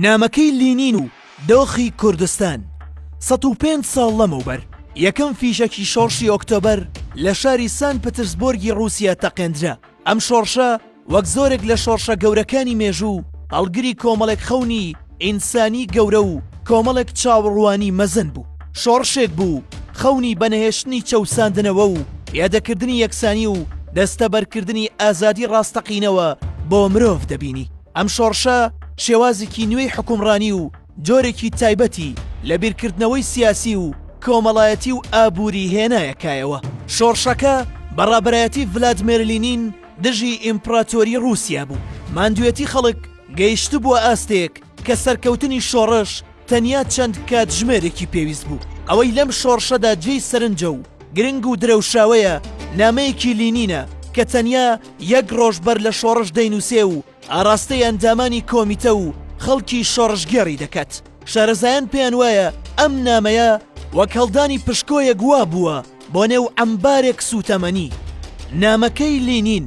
نامەکەی لینین و دۆخی کوردستان سەد و پێنج ساڵ لەمەوبەر یەکەم فیشەکی شۆڕشی ئۆکتۆبەر لە شاری سان پترسبۆرگی ڕووسیا تەقێندرا ئەم شۆڕشە وەک زۆرێک لە شۆڕشە گەورەکانی مێژوو هەڵگری کۆمەڵێک خەونی ئینسانی گەورە و کۆمەڵێک چاوەڕوانی مەزن بوو شۆڕشێک بوو خەونی بەنەهێشتنی چەوساندنەوە و یادەکردنی یەکسانی و دەستەبەرکردنی ئازادی ڕاستەقینەوە بۆ مرۆڤ دەبینی ئەم شۆڕشە شێوازێکی نوێی حوکمڕانی و جۆرێکی تایبەتی لە بیرکردنەوەی سیاسی و کۆمەڵایەتی و ئابووری هێنایە کایەوە. شۆڕشەکە بە ڕابەرایەتی ڤلادمێر لینین دژی ئیمپڕاتۆری ڕووسیا بوو. ماندووێتی خەڵک گەیشتبووە ئاستێک کە سەرکەوتنی شۆڕش، تەنیا چەند کاتژمێرێکی پێویست بوو. ئەوەی لەم شۆڕشەدا جێی سەرنجە و گرنگ و درەوشاوەیە، نامەیەکی لینینە کە تەنیا یەک ڕۆژ بەر لە شۆڕش دەینووسێ و ئاراستەی ئەندامانی کۆمیتە و خەڵکی شۆڕشگێڕی دەکات. شارەزایان پێیان وایە ئەم نامەیە وەک هەڵدانی پشکۆیەک وا بووە بۆ نێو عەمبارێک سووتەمەنی. نامەکەی لینین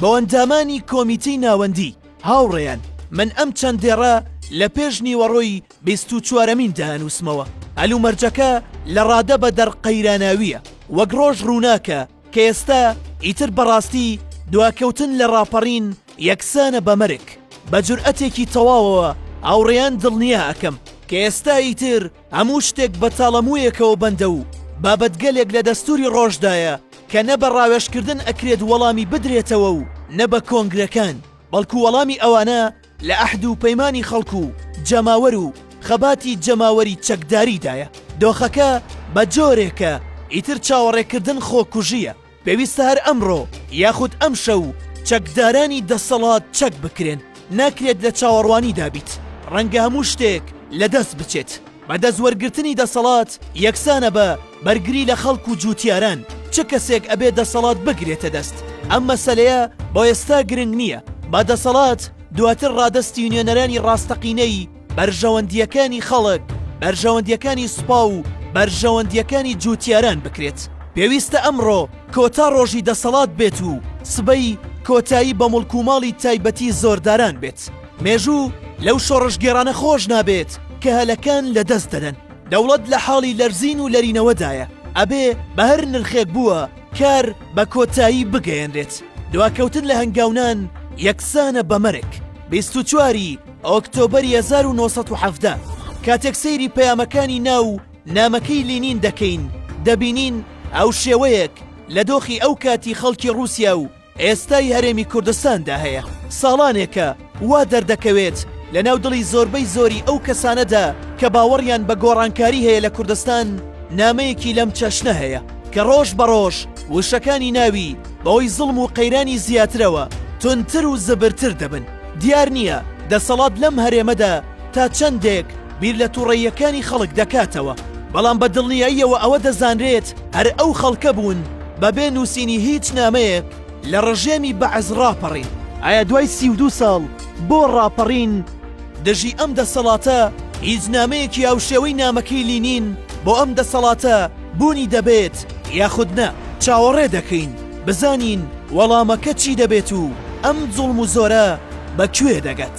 بۆ ئەندامانی کۆمیتەی ناوەندی، هاوڕێیان من ئەم چەند دێڕە لە پێش نیوەڕۆی بیست و چوارەمین دانووسمەوە هەلومەرجەکە لە ڕادە بە دەر قەیراناویە وەک ڕۆژ ڕووناکە کە ئێستا ئیتر بەڕاستی دواکەوتن لە ڕاپەڕین یەکسانە بە مەرگ بە جورئەتێکی تەواوەوە هاوڕێیان دڵنیا ئەکەم کە ئێستا ئیتر هەموو شتێک بە تاڵەموویەکەوە بەندە و بابەتگەلێک لە دەستووری ڕۆژدایە کە نە بە ڕاوێژکردن ئەکرێت وەڵامی بدرێتەوە و نە بە کۆنگرەکان، بەڵکو وەڵامی ئەوانە لە ئەحد و پەیمانی خەڵک و جەماوەر و خەباتی جەماوەری چەکداریدایە. دۆخەکە بە جۆرێکە ئیتر چاوەڕێکردن خۆکوژییە. پێویستە هەر ئەمڕۆ یاخود ئەمشەو چەکدارانی دەسەڵات چەک بکرێن ناکرێت لە چاوەڕوانیدا بیت ڕەنگە هەموو شتێک لە دەست بچێت بە دەست وەرگرتنی دەسەڵات یەکسانە بە بەرگری لە خەڵک و جووتیاران چ کەسێک ئەبێ دەسەڵات بگرێتە دەست ئەم مەسلەیە بۆ ئێستا گرنگ نییە با دەسەڵات دواتر ڕادەستی نوێنەرانی ڕاستەقینەی بەرژەوەندییەکانی خەڵک، بەرژەوەندییەکانی سوپا و بەرژەوەندییەکانی جووتیاران بکرێت. پێویستە ئەمڕۆ کۆتا ڕۆژی دەسەڵات بێت و سبەی کۆتایی بە موڵک و ماڵی تایبەتی زۆرداران بێت. مێژوو لەو شۆڕشگێڕانە خۆش نابێت کە هەلەکان لە دەست دەدەن. دەوڵەت لە حاڵی لەرزین و لەرینەوەدایە، ئەبێ بە هەر نرخێک بووە کار بە کۆتایی بگەیەنرێت. دواکەوتن لە هەنگاونان یەکسانە بە مەرگ. بیست و چواری ئۆکتۆبەری هەزار و نۆ سەد و حەڤدە کاتێک سەیری پەیامەکانی ناو نامەکەی لینین دەکەین، دەبینین هاوشێوەیەک لە دۆخی ئەو کاتی خەڵکی ڕووسیا و، ئێستای هەرێمی کوردستاندا هەیە، ساڵانێکە وا دەردەکەوێت لە ناو دڵی زۆربەی زۆری ئەو کەسانەدا کە باوەڕیان بە گۆڕانکاری هەیە لە کوردستان، نامەیەکی لەم چەشنە هەیە کە ڕۆژ بە ڕۆژ وشەکانی ناوی بەهۆی زوڵم و قەیرانی زیاترەوە توندتر و زبرتر دەبن، دیار نییە دەسەڵات لەم هەرێمەدا، تا چەندێک بیر لە توڕەییەکانی خەڵک دەکاتەوە، بەڵام بە دڵنیاییەوە ئەوە دەزانرێت هەر ئەو خەڵکە بوون بە بێ نووسینی هیچ نامەیەک لە ڕژێمی بەعس ڕاپەڕین. ئایا دوای سی و دوو ساڵ بۆ ڕاپەڕین دژی ئەم دەسەڵاتە هیچ نامەیەکی هاوشێوەی نامەکەی لینین بۆ ئەم دەسەڵاتە بوونی دەبێت یاخود نا؟ چاوەڕێ دەکەین بزانین وەڵامەکە چی دەبێت و ئەم زوڵم و زۆرە بە کوێ دەگەت.